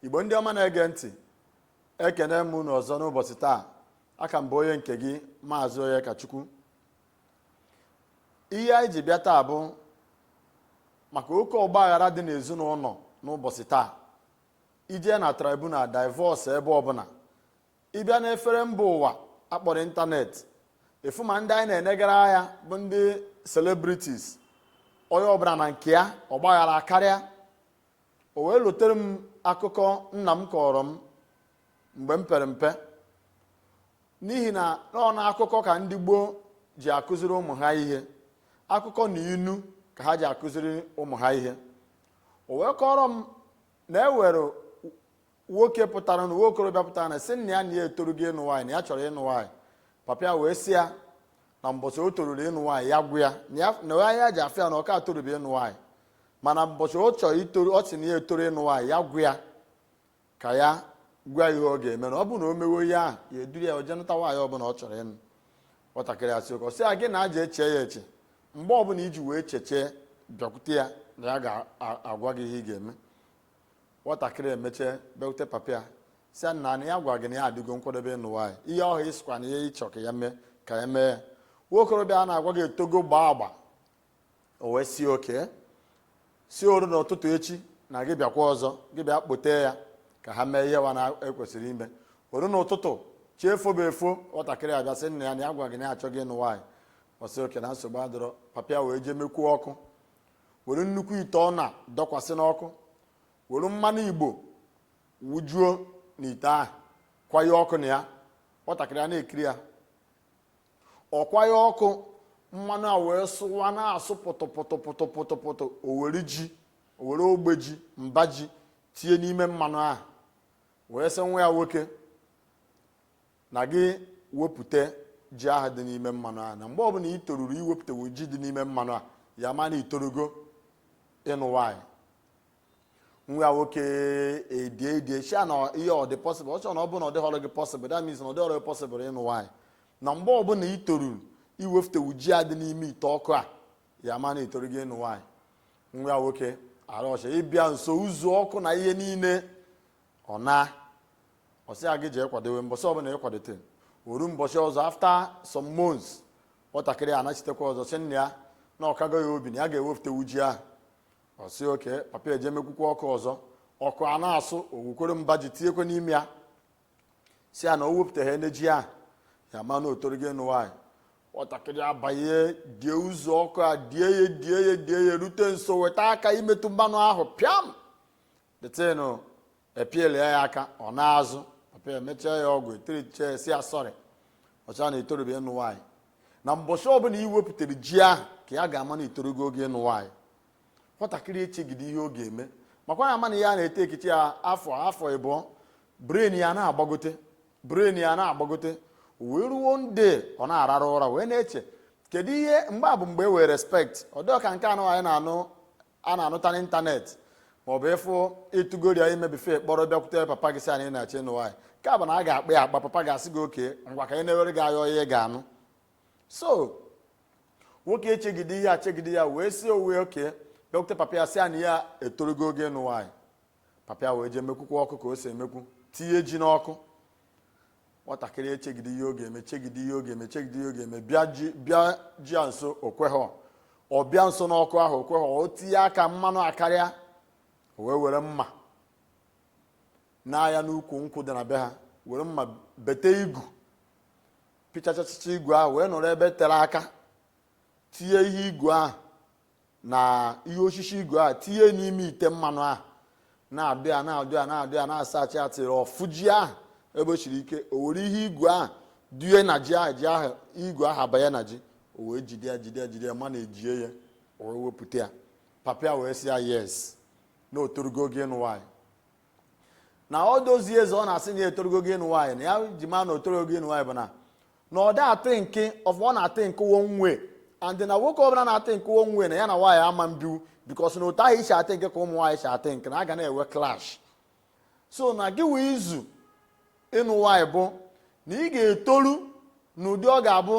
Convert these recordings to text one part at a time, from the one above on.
igbo ndị ọma na-ege ntị ekene m unu ọzọ n'ụbọchị taa aka m bụ onye nke gị maazị onyekachukwu ihe anyị ji bịa taa bụ maka oke ọgbaghara dị n'ezinụlọ n'ụbọchị taa ije na tribunal divorce ebe ọbụla ịbịa n'efere mba ụwa akpọrọ ịntanetị efu ma ndị anyị na-enegara anya bụ ndị celebrities onye ọbụla na nke ya ọgbaghara akarịa o wee lotere m akụkọ nna m kọrọ m mgbe m pere mpe n'ihi na ọ na akụkọ ka ndị gboo ji akụziri ụmụ ha ihe akụkọ na inu ka ha ji akụziri ụmụ ha ihe o wee kọrọ m na e nwere nwoke pụtara na nwa okorobịa pụtara na sị nna ya na ya etorugo ịnụ nwaanyị na ya chọrọ ịnụ nwaanyị papa ya wee sị ya na mbọchị o toruru ịnụ nwaanyị ya gwa ya na ya ya ji afụ ya na ọ ka etorubi ịnụ nwaanyị mana mbọchị ọ chọrọ itoru ọ sị na ya etoru ịnụ nwaanyị ya gwa ya ka ya gwa ihe ọ ga-eme na ọ bụrụ na o mewe ihe ahụ ya eduru ya o je nụta nwaanyị ọbụla ọ chọrọ ịnụ nwatakịrị asị okay ọ sị ya gị naa jee chee ya eche mgbe ọbụla i ji wee chechaa bịakwute ya na ya ga-agwa gị ihe ị ga-eme nwatakịrị emechaa bịakwute papa ya sị ya nna na ya gwara gị na ya adịgo nkwadobe ịnụ nwaanyị ihe ahụ ị sịkwa na ihe ị chọ ka ya mee ka ya mee ya nwa okorobịa a na-agwa gị etogo gbaa agba o wee sị okay sị o ru n'ụtụtụ echi na gị bịakwa ọzọ gị bịa kpọtee ya ka ha mee ihe wa kwesịrị ime o ru n'ụtụtụ chi efobe efo nwatakịrị abịa sị nna ya na ya gwara gị na ya achọgo ịnụ nwaanyị ọ sị okay na nsogbu adịrọ papa ya wee jee mekwuo ọkụ were nnukwu ite ọna dọkwasị n'ọkụ were mmanụ igbo wujuo n'ite ahụ kwaye ọkụ na ya nwatakịrị a na-ekiri ya ọ kwaye ọkụ mmanụ a wee sụwa na-asụ pụtụpụtụpụtụpụtụpụtụ o were ji o were ogbe ji mba ji tinye n'ime mmanụ ahụ wee sị nwa ya nwoke na gị wepụta ji ahụ dị n'ime mmanụ ahụ na mgbe ọbụla ị toruru iwepụtanwu ji dị n'ime mmanụ a ya ma na i torugo ịnụ nwaanyị nwa ya nwoke edie edie sị ya na ihe a ọ dị possible ọ sị ya na ọ bụrụ na ọ dịghọrọ gị possible that means na ọ dịghọrọ gị possible ịnụ nwaanyị na mgbe ọbụla ị toruru iwepụtanwu ji a dị n'ime ite ọkụ a ya ma na i torugo ịnụ nwaanyị nwa ya nwoke arọcha ịbịa nso uzu ọkụ na ihe niile ọ naa ọ sị ya gị jee kwadowe mbọsị ọbụla ị kwadote o ru mbọsị ọzọ after some months nwatakịrị a anachitekwa ọzọ sị nna ya na ọ kago ya obi na ya ga-ewepụtanwu ji ahụ ọ sị okay papa ya eje mekwukwa ọkụ ọzọ ọkụ a na-asụ o wekwere mba ji tinyekwa n'ime ya sị ya na o wepụtahanị ji ahụ ya ma na o torugo ịnụ nwaanyị nwatakịrị abanye die uzu ọkụ a die ya die ya die ya rute nso weta aka imetụ mmanụ ahụ pịam detenu epielia ya aka ọ naa azụ papa emechaa ya ọgwụ etericha ya sị ya sorry ọcha na i torubi ịnụ nwaanyị na mbọchị ọbụla ị wepụtara ji ahụ ka ya ga-ama na i torugo oge ịnụ nwaanyị nwatakịrị echegide ihe ọ ga-eme makwa ya ama na ya na-ete ekichi ya afọ afọ ịbụọ brain ya na-agbagote brain ya na-agbagote wee ruo one day ọ na-arara ụra wee na-eche kedu ihe mgbe a bụ mgbe e nwere respect ọ dịọ ka nke anụ anyị na-anụ a na-anụta n'ịntanetị maọbụ ị fụ ị tụgori ya ime before ị kpọrọ bịakwute papa gị sị ya na ị na-achọ ịnụ nwaanyị nke a bụ na a ga-akpa ya akpa papa ga-asị gị okay ngwa ka anyị na-ewere gị anya onye ị ga-anụ so nwoke echegide ihe a chegide ya wee sị onwe okay bịakwute papa ya sị ya na ya etorugo oge ịnụ nwaanyị papa ya wee jee mekwukwa ọkụ ka o si emekwu tinye ji n'ọkụ nwatakịrị echegide ihe ọ ga-eme chegide ihe ọ ga-eme chegide ihe ọ ga-eme bịa ji bịa ji ya nso o kweghọ ọ bịa nso n'ọkụ ahụ o kweghọ o tinye aka mmanụ akarịa o wee were mma na-aga n'ukwu nkwụ dị na be ha were mma bete igu pịchachachacha igu ahụ wee nọrọ ebe tere aka tinye ihe igu ahụ na ihe osisi igu a tinye n'ime ite mmanụ ahụ na-adụ ya na-adụ ya na-adụ ya na-asachi ya till ọ fụ ji ahụ ebe o siri ike o were ihe igu ahụ dụnye na ji ahụ ji ahụ igu ahụ abanye na ji o wee jide ya jide ya jide ya managie ya o wee wepụta ya papa ya wee sị ya yes na o torugo oge ịnụ nwaanyị na all those years ọ na-asị na ya etorugo oge ịnụ nwaanyị na ya ji ma na o torurọ oge ịnụ nwaanyị bụ na na ọ da athink ọfụma ọ na-athink one way and na nwoke ọbụla na-athink one way na ya na nwaanyị ama ebinwu because na otu ahụ i si athink ka ụmụ nwaanyị si athink na a ga na-enwe clash so na gị wa izu ịnụ nwaanyị bụ na ị ga-etoru n'ụdị ọ ga-abụ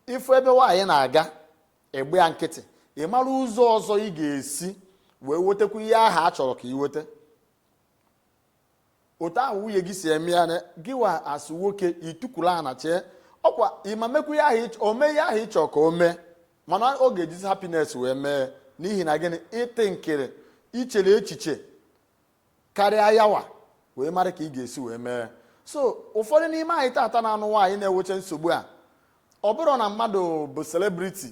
ị fụ ebe nwaanyị na-aga ị gbaa ya nkịtị ị mara ụzọ ọzọ ị ga-esi wee wetakwa ihe ahụ a chọrọ ka ị weta otu ahụ nwunye gị si eme ya na gị wa as nwoke i tukwulu ana chee ọkwa ị ma mekwu ya ahụ o mee ihe ahụ ị chọ ka o mee mana ọ ga-ejizi happiness wee mee n'ihi na gịnị ị thinkiri i chere echiche karịa ya wa wee mara ka ị ga-esi wee mee so ụfọdụ n'ime anyị taata na-anụ nwaanyị na-enwecha nsogbu a ọ bụrọ na mmadụ bụ celebrity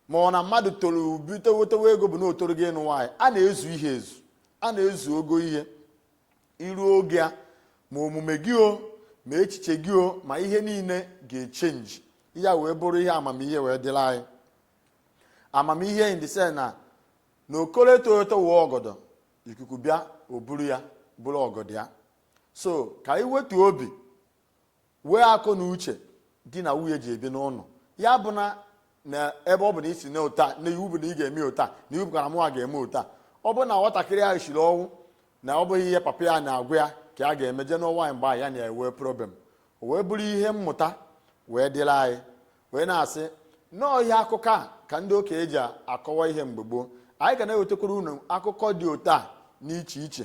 ma ọ na mmadụ toro bute wetewe ego bụ na o torugo ịnụ nwaanyị a na-ezu ihe ezu a na-ezu ogo ihe i ruo oge a ma omume gị o ma echiche gị o ma ihe niile ga-achange ya wee bụrụ ihe amamihe wee dịla anyị amamihe in the sense na na okoro eto eto wee ọgọdọ ikuku bịa o buru ya buru ọgọdọ ya so ka anyị wetu obi wee akọ na uche di na nwunye ji ebi n'ụlọ ya bụ na na ebe ọ bụ na ị sị na ụta na iwu bụ na ị ga-eme ụta na iwu bụkara mụnwa ga-eme ụta ọ bụ na nwatakịrị ahụ shiri ọnwụ na ọ bụghị ihe papa ya na-agwa ya ka ya ga-eme jee nụọ nwaanyị mgbe ya na-enwe problem o wee bụrụ ihe mmụta wee dịrị anyị wee na-asị na ọọ ihe akụkọ a ka ndị okenye ji akọwa ihe mgbe gboo anyị ga na-ewetakwara unu akụkọ dị otu a n'iche iche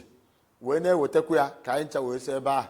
wee na-ewetakwa ya ka anyị ncha wee si ebe ahụ